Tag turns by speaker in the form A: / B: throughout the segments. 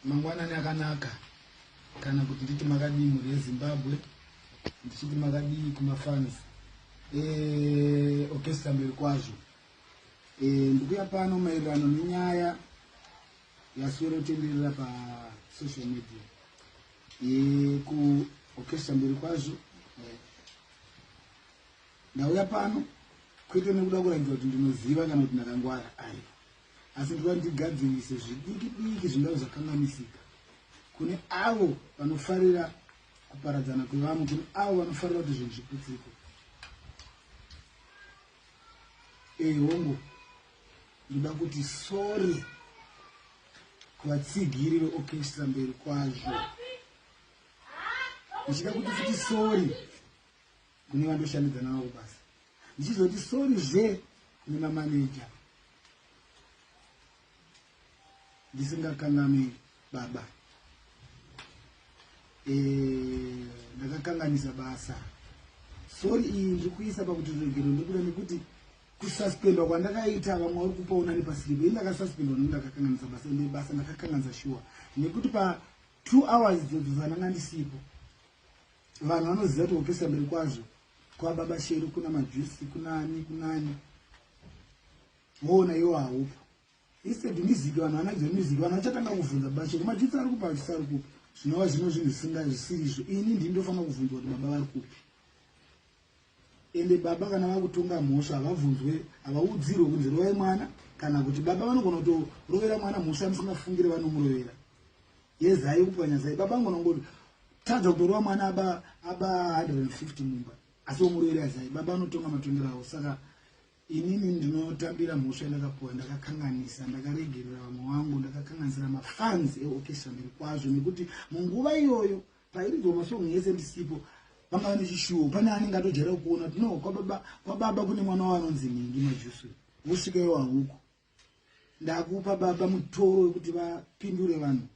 A: Mangwanani akanaka kana kuti nditi makadii mhuri yeZimbabwe ndichiti makadii kumafans eorchestra eh, mberi kwazvo e, ndikuya pano maererano nenyaya yaswero tenderera pasocial media e, eh, kuorchestra mberi kwazvo e, ndauya pano kwete nekuda kuratidza kuti ndinoziva kana kuti ndakangwara ayo asi toda kuti tigadzirise zvidiki diki zvingave zvakanganisika kune avo vanofarira kuparadzana kwevamwe kune avo vanofarira kuti zvinhu zviputsiko ehongo ndoda kuti sori kuvatsigiri veokestra mberi kwazvo ndichida kuti futi sori kune vandoshandidzana navo basa ndichizoti sori zve kune mamaneja ndisingakanganwi baba eh, ndakakanganisa basa sori iyi ndiri kuisa pakuti ruregero ndikuda nekuti kususpendwa kwandakaita vamwe vari kupa unani pasiripo ini ndakasuspendwa nekuti ndakakanganisa basa ende basa ndakakanganisa shuwa nekuti pa two hours dzodzozananga ndisipo Vanhu vanoziva kuti kupisa mberi kwazvo kwababa sheru kuna majusi kunani kunani woona iwo haupo instead music vanhu vanadzo music vanhu vachatanga kuvhunza baba sheru majusi ari kupa majusi ari kupi zvinova zvino zvinhu zvisinga zvisiri izvo ini ndini ndofanira kuvhunzwa kuti baba vari kupi Ende baba kana vakutonga mhosva havabvunzwe havaudzirwe kunzi rovai mwana kana kuti baba vanogona kutorovera mwana mhosva yamusingafungire vanomurovera yezai kupwanya zai baba vanogona kungoti tadza kutorova mwana aba aba 150 mumba asi womurovera yazai baba vanotonga matongero avo saka inini ndinotambira mhosva yandakapuwa ndakakanganisa ndakaregerera vamwe wangu ndakakanganisira mafans eokestra mberi kwazvo nekuti munguva iyoyo Pairidzwa masong yese ndisipo vanga vane chishuwo pane anenge atojera kuona kuti no kwababa kwababa kune mwana waanonzi nhingi majusu wosvika iwo hauko ndakupa baba mutoro wekuti vapindure vanhu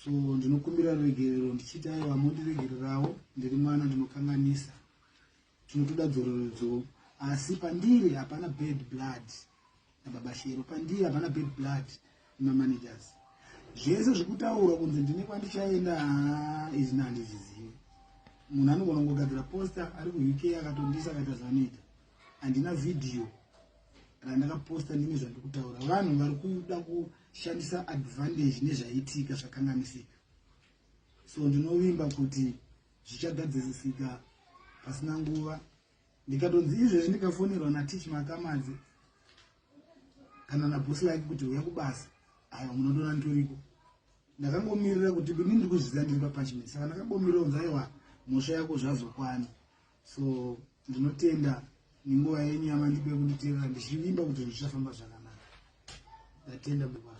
A: so ndinokumbira ruregerero ndichiita ivo vamondiregererawo ndiri mwana ndinokanganisa Tinotoda dzororodzo asi pandiri hapana bad blood nababa Shero. Pandiri hapana bad blood nemamanagers. Zvese zvikutaurwa kunzi ndine kwandichaenda haa izvi nandizvizivi. Munhu anogona kungogadzira poster ari kuUK akatondisa akaita zvanoita. Handina video randakaposta ndine zvandiri kutaura vanhu vari kuda kushandisa advantage nezvaitika zvakanganisika so ndinovimba kuti zvichagadzisisika pasina nguva ndikatonzi izvezvi ndikafonerwa natich makamadzi kana nabosi like kuti uya kubasa aiwa munotoona nditoriko ndakangomirira kuti ini ndiri kuzviziva ndiri papachimini saka ndakangomirira kunzi aiwa mhosva yako zvazokwana so ndinotenda nenguva yenyu yamandipe kunditeerera ndichivimba kuti zvichafamba zvakanaka ndatenda bukwa